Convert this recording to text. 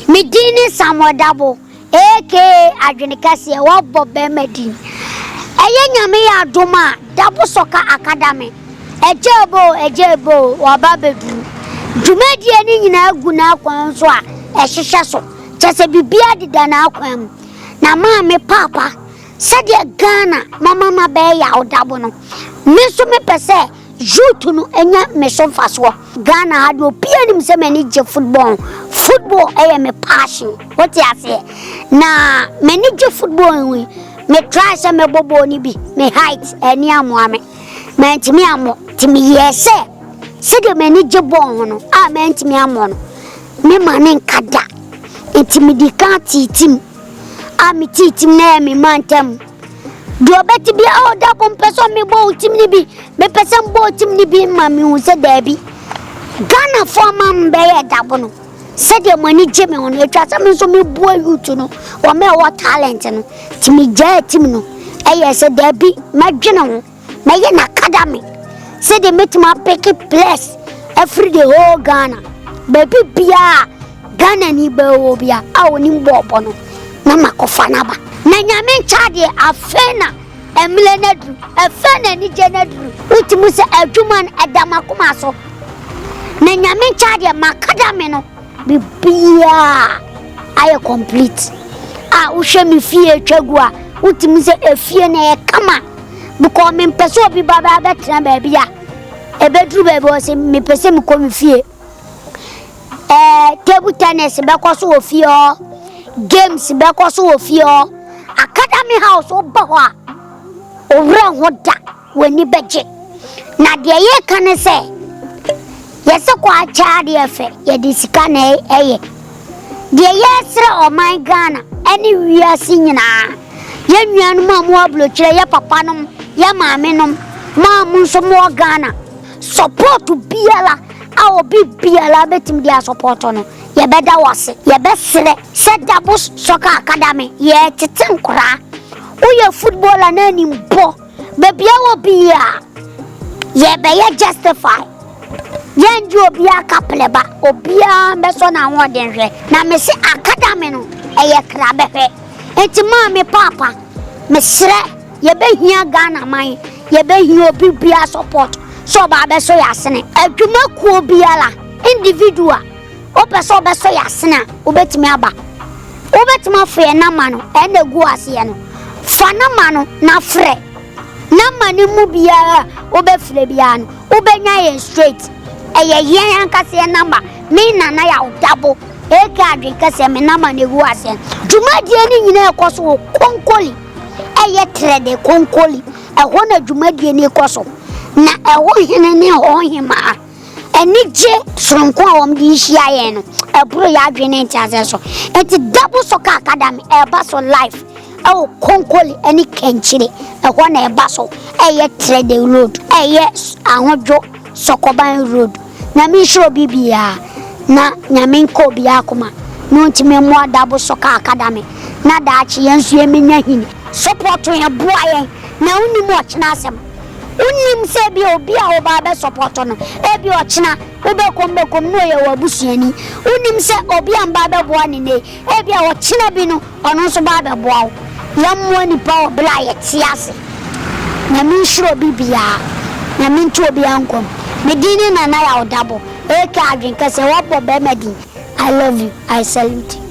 Me din ne Samuel Dabo aka Adwene Kɛseɛ Wabɔ Bɛɛma Din Ɛyɛ Nyame Adom a Dabo Sɔka Akadame Agyae Bo o Agyae Bo o Waba Abɛduru Dwumadie no nyinaa gu n'akwan so a ɛhyehyɛ so Kyɛ sɛ biribiara deda n'akwan mu Na maa me paapa Sɛdeɛ Ghana mama no abɛyɛ yaw Dabo no Me nso mepɛ sɛ Youth no nya me so mfasoɔ. Ghana ha deɛ obiara nim sɛ m'ani gye football ho. Football yɛ me passion. Wote aseɛ? Na m'ani gye football ho yi, me try sɛ mɛbɔ bɔɔl no bi. Me height ani ammoa me. Mantumi ammɔ. Nti meyɛɛ sɛ sɛdeɛ m'ani gye bɔɔl ho no a mantumi ammɔ no, memma no nka da. Nti medi kan tee tim. A metee tim no ɛyɛ me mantam. Deɛ ɔbɛte bi a ɔda ko mpɛ sɛ mebɔ wo tim no bi mepɛ sɛ mbɔ wo tim no bi ma mehu sɛ daabi ghanafoɔ ama mbɛyɛ dabo no sɛdeɛ mo ani gye me ho no atwa sɛ me nso meboa youth no wɔn a ɛwɔ talent no nti megyaa tim no ɛyɛ sɛ daabi mɛdwene ho Mɛyɛ na academy sɛdeɛ mɛtumi apeke players afiri the whole Ghana baabi biara Ghana ni bɛwɔ bia a onim bɔɔbɔ no na makɔfa no aba na nyame nkya deɛ afei na ɛmmerɛ no aduru ɛfɛ na anigye no aduru wotumi sɛ adwuma no ɛda makoma so na nyame nkya deɛ ma academy no Biribiara ayɛ complete a wohwɛ me fie atwa gu a wotumi sɛ efie no ɛyɛ kama because mempɛ sɛ obi ba bɛa bɛtena baabi a ɛbɛduru baabi wɔ sɛ mepɛ sɛ mekɔ me fie eh, table tennis bɛkɔ so wɔ fie hɔ games bɛkɔ so wɔ fie hɔ academy house woba hɔ a owura ho da W'ani bɛgye. Na deɛ yɛreka ne sɛ, yɛsɛ kɔ akyɛ adeɛ ɛfɛ, yɛde sika na ɛyɛ. Deɛ yɛresrɛ ɔman Ghana ɛne wiase nyinaa, yɛn nuanom a mowɔ abrokyire, yɛn papanom, yɛn maamenom, mo a mo nso mowɔ Ghana, support biara a obi biara bɛtumi de asupporto no, yɛbɛda wo ase. Yɛbɛsrɛ sɛ Dabos Soccer Academy, yɛretete nkoraa. Woyɛ footballer na anim bɔ. Baabi a wɔ bia yɛ bɛ yɛ justify yɛn di obi aka plɛ ba obi a bɛ sɔ na ho ɔden hwɛ na me se academy no ɛyɛ kra bɛ hwɛ eti maa me paapa me srɛ yɛ bɛ hia Ghana man yɛ bɛ hia obi bia support sɛ ɔba bɛ sɔ yɛ asene adwuma kuo biara individual Wopɛ sɛ wobɛsɔ yɛn asene a, wobɛtumi aba. Wobɛtumi afrɛ yɛn nɔma no, ɛyɛ na ɛgu aseɛ no. Fa nɔma no na frɛ. Nɔma no mu biara a wobɛfrɛ biara no, wobɛnya yɛn straight. Ɛyɛ yɛn ankasa yɛn nɔma. Me Nana Yaw Dabo, aka Adwene Kɛseɛ, me nɔma no ɛgu aseɛ no. Dwumadie no nyinaa ɛkɔ so wɔ Konkoli. Ɛyɛ Trɛde Konkoli. Ɛhɔ na dwumadie no rekɔ so. Na ɛhɔ hene ne ɛhɔ hemaa. Anigye soronko a wɔn de rehyia yɛn no, ɛboro yɛn adwene ne nteaseɛ so. Enti double soccer academy ɛreba so life ɛwɔ Konkole ɛne Kankyire. Ɛhɔ na ɛba so ɛyɛ Trɛde road, ɛyɛ Ahodwo Sɔkɔban road. Nyame nhyira obi biara na Nyame nka obiara koma na ɔntumi mmoa double soccer academy na daakye yɛn nso yɛmmɛnya hini. Support yɛn, boa yɛn na wonim ɔkyena asɛm. Wonnim sɛ ebia obi a woba abɛsɔpɔɔto no, ebia ɔkyena wobɛkɔ mu bɛkɔ mu na ɔyɛ w'abusuani. Wonnim sɛ obi a mba abɛboa no nnɛ yi, ebia ɔkyena bi no, ɔno nso ba abɛboa wo. Yɛmmoa nnipa wɔ bere a yɛte ase. Nyame nhyira obi biara. Nyame nto obiara nkwa mu. Me din ne Nana Yaw Dabo, aka Adwenkɛseɛ, wɔbɔ barima din. I love you. I salute you.